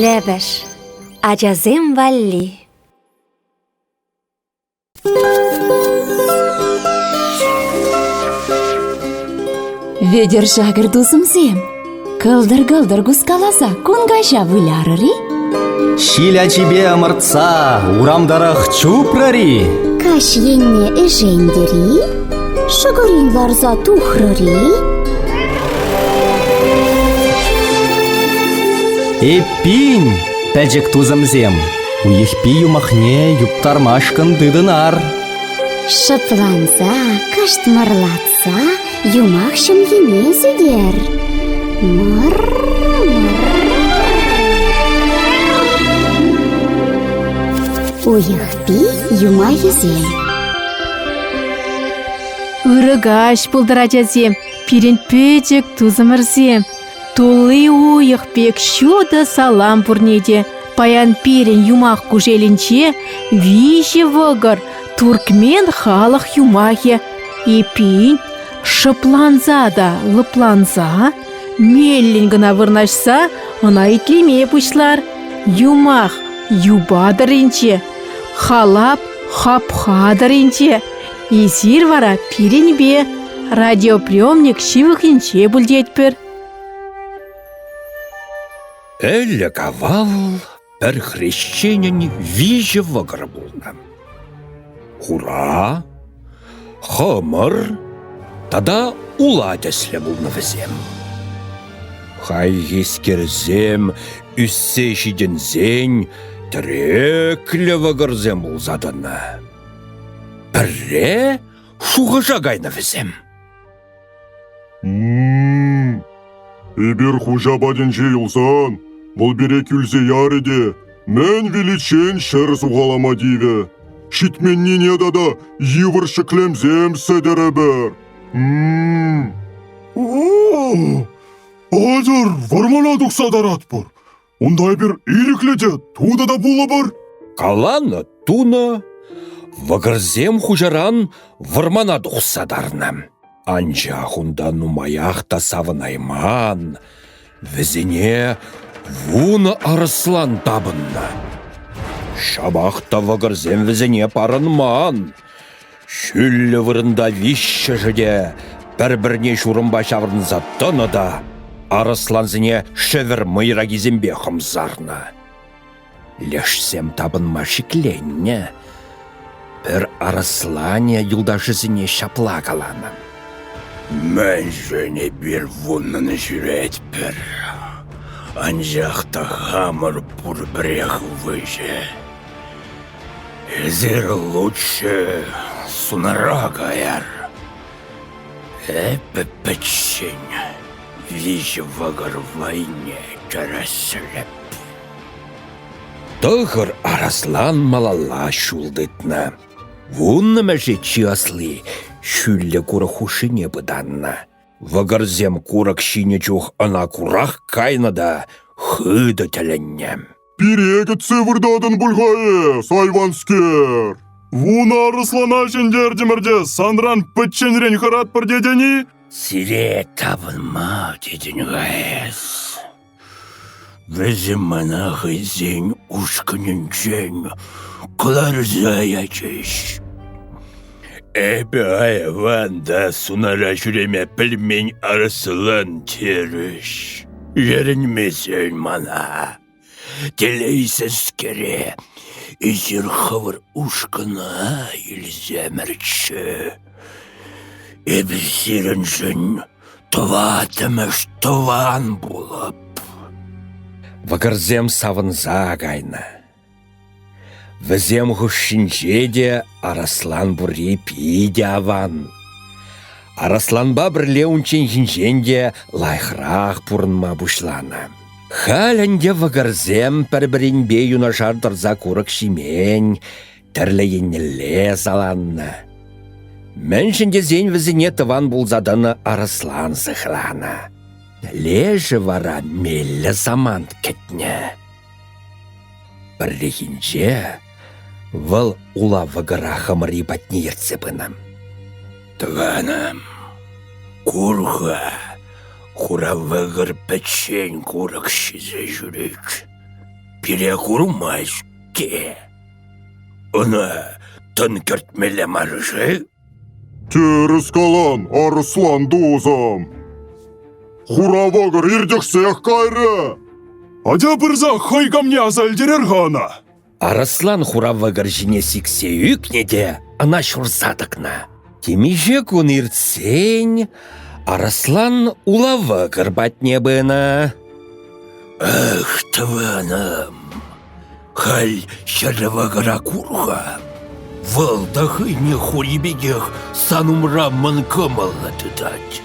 Лӗпӗш ачасем валли Вӗтӗр шакӑр тусӑмсем, кӑлтӑр-кӑлтӑр кускаласа кун каҫа вылярӑр-и? Ҫил ачипе ӑмӑртса урам тӑрӑх чупрӑр-и? Каҫ енне ӗшентӗр-и? Шӑкӑрин ларса тухрӑр-и? Эппин, пӗчӗк тусӑмсем, Уйӑхпи юмахне юптармашкӑн тытӑнар. Шӑпланса, кӑштмӑрлатса юмах ҫӑмхине сӳтер. Мӑр, мӑр. Уйӑхпи юмахӗсем. Ырӑ каҫ пултӑр, ачасем, пирӗн пӗчӗк тусӑмӑрсем. Тулли уйӑх пек ҫутӑ салам пурне те. Паян пирӗн юмах кушелӗнче виҫӗ вӑкӑр, туркмен халӑх юмахӗ. Эппин, шӑпланса та лӑпланса, меллӗн кӑна вырнаҫса ӑна итлеме пуҫлар. Юмах юпа тӑрринче, халап хапха тӑрринче, Эсир вара пирӗнпе радиоприемник ҫывӑхӗнче пуль тетпӗр. Ӗлӗк авал пӗр хресченӗн виҫӗ вӑкӑр пулнӑ. Хура, хӑмӑр тата ула тӗслӗ пулнӑ вӗсем. Хайхискерсем ӳссе ҫитӗнсен тӗреклӗ вӑкӑрсем пулса тӑнӑ. Пӗрре шухӑша кайнӑ вӗсем. Эпир хуҫа патӗнче юлсан, вӑл пире кӳлсе ярӗ те мӗн виличчен ҫӗр сухалама тивӗ. Ҫитменнине тата йывӑр ҫӗклемсем сӗтӗрӗпӗр. Атьӑр, вӑрмана тухса таратпӑр. Унта эпир ирӗклӗ те тутӑ та пулӑпӑр. Каланӑ тунӑ вӑкӑрсем хуҫаран вӑрмана тухса тарнӑ. Анчах унта нумаях та савӑнайман. Вӗсене вунӑ арӑслан тапӑннӑ. Ҫапах та вӑкӑрсем вӗсене парӑнман. Ҫӳллӗ вырӑнта виҫҫӗшӗ те пӗр-пӗрне ҫурӑмпа ҫаврӑнса тӑнӑ та арӑслансене шӗвӗр мӑйракисемпе хӑмсарнӑ. Лешсем тапӑнма шикленнӗ. Пӗр арӑсланӗ юлташӗсене ҫапла каланӑ. Мӗншӗн эпир вуннӑн ҫӳретпӗр? Анчах та хамӑр пурпӗрех выҫӑ. Эсир лучше сунара каяр. Эпӗ пӗччен виҫӗ вӑкӑр вӑйне кӗресреп. Тӑхӑр араслан малалла ҫул тытнӑ. Вуннӑ мӗше чи асли ҫӳллӗ курӑк хушшине пытаннӑ. Вӑкӑрсем курӑк ҫинӗ чух ӑна курах кайнӑ та хытӑ тӗлӗннӗ. Пире кӗтсе выртатӑн пуль-ха эс, айванскер. Вунӑ арӑслана ҫӗнтертӗмӗр те санран пӗчченрен хӑратпӑр тетӗн-и? Сире тапӑнма тетӗн-ха эс. Вӗсем мана хӑйсен ушкӑнӗнчен кӑларса ячӗҫ. Эпӗ айван та сунара ҫӳреме пӗлмен арӑслан терӗҫ. Ерӗнмесен мана. Телейсӗрскере эсир хӑвӑр ушкӑна илсемӗрччӗ. Эпир сирӗншӗн тӑваттӑмӗш тӑван пулӑп. Вӑкӑрсем савӑнса кайнӑ. Вӗсем хушшинче те Араслан пурри питӗ аван. Арасланпа пӗрле унчченхинчен те лайӑхрах пурӑнма пуҫланӑ. Халь ӗнтӗ вӑкӑрсем пӗр-пӗринпе юнашар тӑрса курӑк ҫимен, тӗрлӗ еннелле саланнӑ. Мӗншӗн тесен вӗсене тӑван пулса тӑнӑ Арслан сыхланӑ. Лешӗ вара меллӗ самант кӗтнӗ. Пӗррехинче вӑл ула вӑкӑра хӑмӑри патне ертсе пынӑ. «Тӑванӑм, кур-ха, хура вӑкӑр пӗччен курӑк ҫисе ҫӳрет. Пире курмасть-ке. Ӑна тӑн кӗртмелле мар-ши?» Тӗрӗс калан, арӑслан тусӑм. Хура вӑкӑр иртӗхсех кайрӗ. Атя пырса хӑй камне аса илтерер-ха ӑна. Арӑслан хура вӑкӑр ҫине сиксе ӳкнӗ те ӑна ҫурса тӑкнӑ. Темиҫе кун иртсен арӑслан ула вӑкӑр патне пынӑ. Ах, тӑванӑм, Халь ҫӗрӗ вӑкӑра кур-ха, вӑл та хӑйне хури пекех сан умра мӑн кӑмӑллӑ тытать.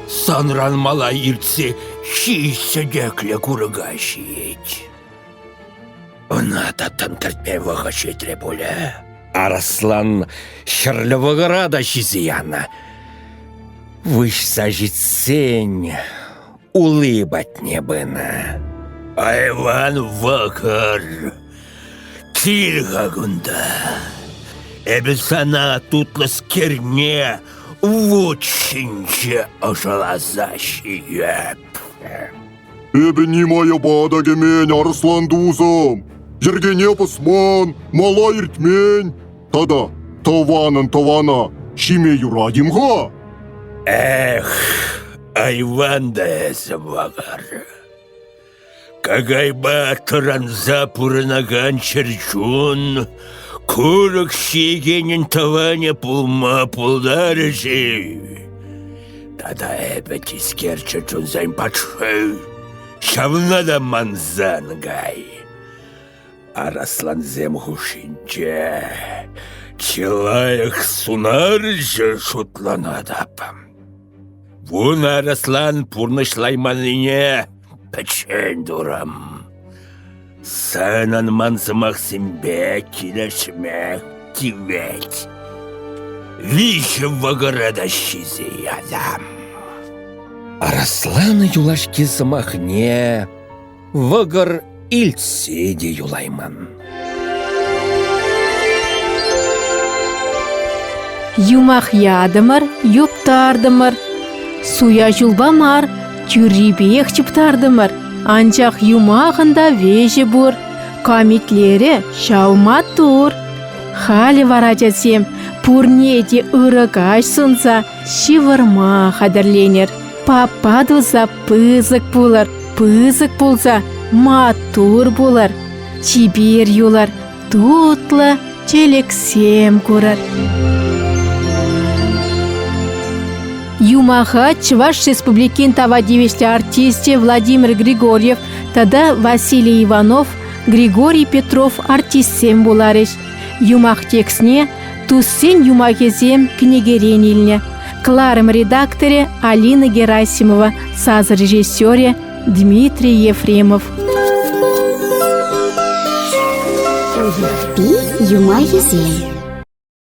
Санран мала иртсе ҫич сӗтеклӗ курӑка ҫиет. Ӑна та тӗнтӗртме вӑхӑт ҫитрӗ пулӗ. Арӑслан ҫӗрлӗ вӑкӑра та ҫисе янӑ. Выҫса ҫитсен улли патне пынӑ. Айван вӑкӑр, кил-ха кунта. Эпӗ сана тутлӑскерне вут ҫинче ӑшаласа ҫиеп. Эпӗ нимая пата кӗмен арслан тусӑм. Йӗркене пӑсман, мала иртмен, Тата тӑванӑн тӑвана ҫиме юратим-ха? Эх, айван та эсӗ, Вагар. Какайпа тӑранса пурӑнакан чӗрчун курӑк ҫиекенӗн тӑванӗ пулма пултарӗ-ши? Тата эпӗ тискер чӗрчунсен патши. Ҫавна та мансан кай. Араслансем хушшинче чылайӑх сунарҫӑ шутланатӑп. Вун араслан пурнӑҫлайманнине пӗччен турӑм. Санӑн ман сӑмахсемпе килӗшме тивет. Виҫӗ вӑкӑра та ҫисе ятам. Араслан юлашки сӑмахне Вӑкӑр илтсе те юлайман. Юмах ятӑмӑр, юптартӑмӑр. Суя ҫулпа мар, тӳррипех чӑптартӑмӑр. Анчах юмахӑн та веҫӗ пур. Камитлерӗ ҫав маттур. Халӗ вара, тетсем, пурне те ырӑ каҫ сунса ҫывӑрма хатӗрленер. Папа туса пысӑк пулӑр, пысӑк пулса маттур пулӑр, чипер юлӑр, тутлӑ чӗлӗксем курӑр. Юмаха Чӑваш Республикин тава тивӗҫлӗ артисчӗ Владимир Григорьев тата Василий Иванов, Григорий Петров артистсем вуларӗҫ. Юмах текстне туссен юмахӗсем кӗнекерен илнӗ. Кӑларӑм редакторӗ Алина Герасимова, сас режиссерӗ Дмитрий Ефремов. Юмахӗсем